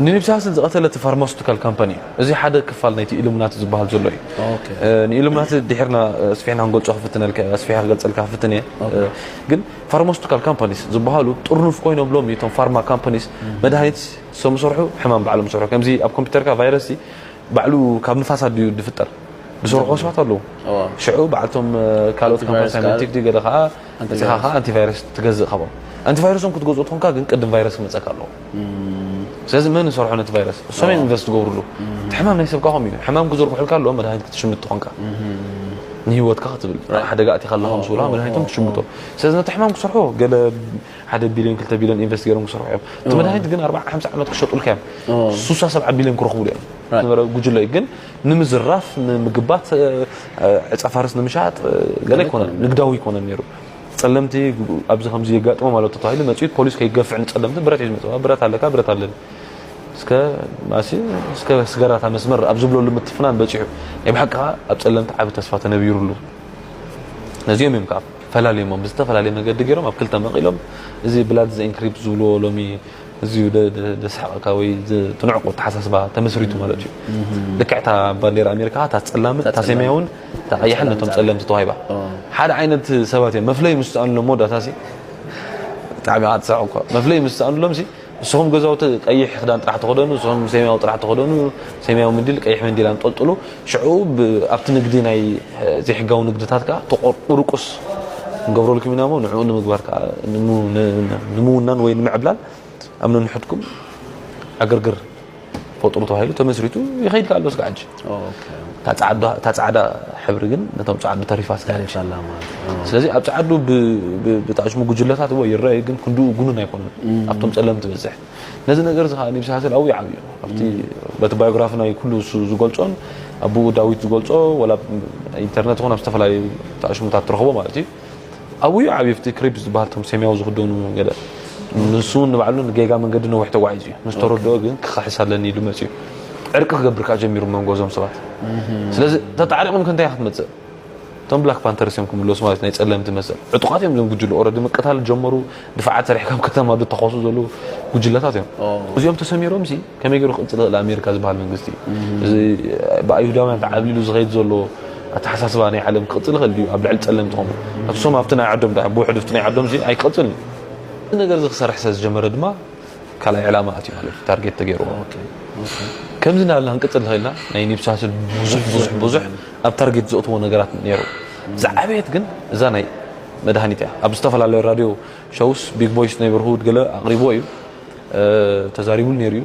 ንኒብሳስል ዝቐተለ እቲ ፋርማሱቲካል ካምፓኒ እዩ። እዚ ሓደ ክፋል ናይቲ ኢሉምናቲ ዝበሃል ዘሎ እዩ። ንኢሉምናቲ ድሒርና ስፊሕና ክንገልጾ ክፍትነልካ እየ፣ ኣስፊሐ ክገልጸልካ ክፍትን እየ። ግን ፋርማሱቲካል ካምፓኒስ ዝበሃሉ ጥርኑፍ ኮይኖም ሎሚ እቶም ፋርማ ካምፓኒስ መድሃኒት ሰም ሰርሑ ሕማም ባዕሎም ሰርሑ። ከምዚ ኣብ ኮምፒተርካ ቫይረስሲ ባዕሉ ካብ ንፋስ ኣድዩ ዝፍጠር ዝሰርሑ ሰባት ኣለዉ። ሽዑ በዓልቶም ካልኦት ካምፓኒስ ኣንቲባዮቲክ ድዩ ገለ ከኣ መጺኻ ከኣ ኣንቲቫይረስ ትገዝእ ካብኦም። ኣንቲቫይረሶም ክትገዝኦ ተኾንካ ግን ቅድም ቫይረስ ክመጸካ ኣለዎ። ስለዚ መን ዝሰርሖ ነቲ ቫይረስ እሶም እዮም ኢንቨስት ዝገብርሉ እቲ ሕማም ናይ ሰብካ ከምኡ እዩ ሕማም ክዝርግሑልካ ኣለዎ መድሃኒት ክትሽምት ትኾንካ ንሂወትካ ክትብል ሓደጋ ኣቲኻ ኣለኻ ምስ ብላ መድሃኒቶም ትሽምቶ ስለዚ ነቲ ሕማም ክሰርሖ ገለ ሓደ ቢልዮን ክልተ ቢልዮን ኢንቨስት ገይሮም ክሰርሑ እዮም እቲ መድሃኒት ግን ኣርባዓ ሓምሳ ዓመት ክሸጡልካ እዮም ሱሳ ሰብዓ ቢልዮን ክረኽቡሉ እዮም ዝነበረ ጉጅለ እዩ ግን ንምዝራፍ ንምግባት ዕፀ ፋርስ ንምሻጥ ገለ ኣይኮነን ንግዳዊ ኣይኮነን ነይሩ ጸለምቲ ኣብዚ ከምዚ የጋጥሞም ኣሎ ተታሂሉ መጺኡ ፖሊስ ከይገፍዕ ንጸለምቲ ብረት ሒዙ መጽዋ ብረት ኣለካ ብረት ኣለኒ እስከ ማሲ እስከ ስገራታ መስመር ኣብ ዝብለሉ ምትፍናን በጺሑ ናይ ብሓቂ ከዓ ኣብ ጸለምቲ ዓቢ ተስፋ ተነቢሩሉ ነዚኦም እዮም ከዓ ፈላልዮሞም ብዝተፈላለየ መገዲ ገይሮም ኣብ ክልተ መቒሎም እዚ ብላድ ዘኢንክሪፕት ዝብልዎ ሎሚ እዚዩ ዘስሕቐካ ወይ ትንዕቁ ኣተሓሳስባ ተመስሪቱ ማለት እዩ ልክዕ እታ ባንዴራ ኣሜሪካ እታ ፀላምን እታ ሰማያውን እታ ቀያሕን ነቶም ፀለምቲ ተዋሂባ ሓደ ዓይነት ሰባት እዮም መፍለይ ምስ ሰኣንሎም መወዳእታ ሲ ብጣዕሚ ከዓ ትስዕቕ እኳ መፍለይ ምስ ሰኣንሎም ሲ ንስኹም ገዛውቲ ቀይሕ ክዳን ጥራሕ ተኸደኑ ንስኹም ሰማያዊ ጥራሕ ተኸደኑ ሰማያዊ ምንዲል ቀይሕ ምንዲል ኣንጠልጥሉ ሽዑ ኣብቲ ንግዲ ናይ ዘይሕጋዊ ንግድታት ከኣ ተቆርቁርቁስ ክንገብረልኩም ኢና እሞ ንዕኡ ንምግባር ከኣ ንምውናን ወይ ንምዕብላል ኣብ ነንሕድኩም ዕግርግር ፈጥሩ ተባሂሉ ተመስሪቱ ይኸይድ ከኣ ኣሎ ስጋዕ ሕጂ እታ ጻዕዳ ሕብሪ ግን ነቶም ጻዕዱ ተሪፋ ስጋዕ ስለዚ ኣብ ጻዕዱ ብጣዕሽሙ ጉጅለታት እዎ ይረኣዩ ግን ክንድኡ ጉኑን ኣይኮነን ኣብቶም ጸለምቲ በዝሕ ነዚ ነገር እዚ ከኣ ኒብሲ ሃሰል ኣውዩ ዓብዩ ኣብቲ በቲ ባዮግራፊ ናይ ኩሉ እሱ ዝገልጾን ኣቡኡ ዳዊት ዝገልጾ ወላ ኢንተርነት ይኹን ኣብ ዝተፈላለዩ ተኣሽሙታት ትረኽቦ ማለት እዩ ኣውዩ ዓብዩ ኣብቲ ክሪፕ ዝበሃል ቶም ሰማያዊ ዝኽደኑ ገለ ንሱ እውን ንባዕሉ ንጌጋ መንገዲ ነዊሕ ተጓዒዙ እዩ ምስ ተረድኦ ግን ክኸሕስ ኣለኒ ኢሉ መፅዩ ዕርቂ ክገብር ከዓ ጀሚሩ መንጎ እዞም ሰባት ስለዚ ተጣዕሪቕም ክንታይ ክትመፅእ እቶም ብላክ ፓንተርስ እዮም ክምለሱ ማለት ናይ ጸለምቲ መሰል ዕጡቃት እዮም እዞም ጉጅለ ኦረዲ ምቅታል ጀመሩ ድፋዓት ሰሪሕ ከም ከተማ ድተኮሱ ዘለዉ ጉጅለታት እዮም እዚኦም ተሰሚሮም ሲ ከመይ ገይሩ ክቅጽል ይኽእል ኣሜሪካ ዝበሃል መንግስቲ እዚ ብኣይሁዳውያን ተዓብሊሉ ዝኸይድ ዘሎ ኣተሓሳስባ ናይ ዓለም ክቅጽል ይኽእል ድዩ ኣብ ልዕሊ ጸለምቲ ከምኡ ኣትሶም ኣብቲ ናይ ዓዶም ድኣ ብውሕዱ ፍቲ ናይ ዓዶም ሲ ኣይክቅጽል እዩ እዚ ነገር እዚ ክሰርሕ ስለ ዝጀመረ ድማ ካልኣይ ዕላማ ኣትዩ ማለት እዩ ታርጌት ተገይርዎ ከምዚ እናበልና ክንቅጽል ንኽእልና ናይ ኒብሳስል ብዙሕ ብዙሕ ብዙሕ ኣብ ታርጌት ዘእትዎ ነገራት ኔሩ ዝዓበየት ግን እዛ ናይ መድሃኒት እያ ኣብ ዝተፈላለዩ ራድዮ ሸውስ ቢግ ቦይስ ነይበርሁድ ገለ ኣቕሪብዎ እዩ ተዛሪቡሉ ኔሩ እዩ።